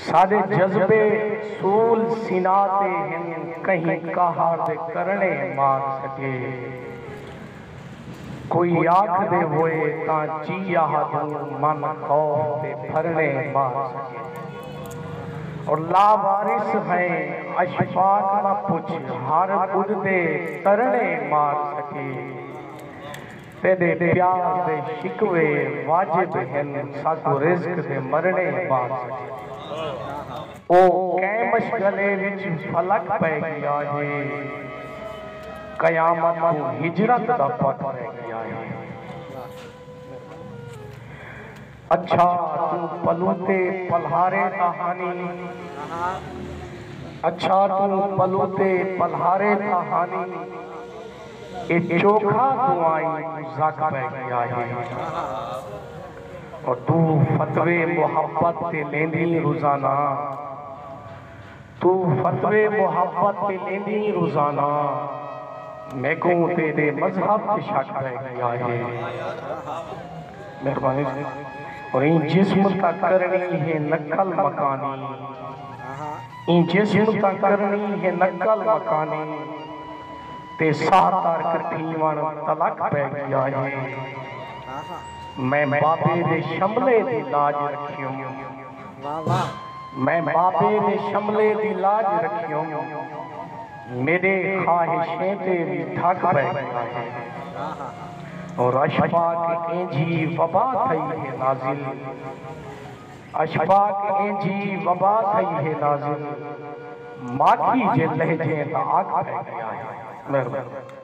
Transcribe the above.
ساڈے جذبے سول سینا تے ہن کہیں قہر دے کرنڑے مار سگے کوئی آکھ دے ہوئے تاں چی آہ دوں من خوف تے پھرنڑے مار سگے اور لا وارث ہیں اشفاق نہ پچھ ہر بدھ دے ترنڑے مار سگے۔ تیݙے پیار دے شکوے واجب ہن ساکوں رزق دے مرݨے بعد سٹیندے۔ او کئیں مشغلے وچ فلک پئے ڳیا ہے قیامت کوں ہجرت دا پت پئے ڳیا ہے۔ اچھا توں پلوتے پلہارے دا ہانی اچھا توں پلوتے پلہارے دا ہانی اے چوکھا توں آئیں کوں زگ پئے گیا ہے او توں فتوے محبت تے لیندیں روزانہ۔ توں فتوے محبت تے ݙیندیں روزانہ میکوں تیݙے مذہب تے شک پئے ڳیا ہے مہربانی اور ایں جسم تاں کرݨی ہے نقل مکانی ایں جسم تاں کرݨی ہے نقل مکانی تے ساہ ترک تھیوݨ تلک پئے ڳیا ہے میں بابے دے شملے دی لاج رکھیوں میں بابے دے شملے دی لاج رکھیوں میݙے خواہشیں تے وی دھک پئے گھدا ہے رشپاک اینجھی وبا تھئی ہے نازل اشپاک اینجھی وبا تھئی ہے نازل ماکھی جے لہجیں دا آگ پئے گھدا ہے مہربانی۔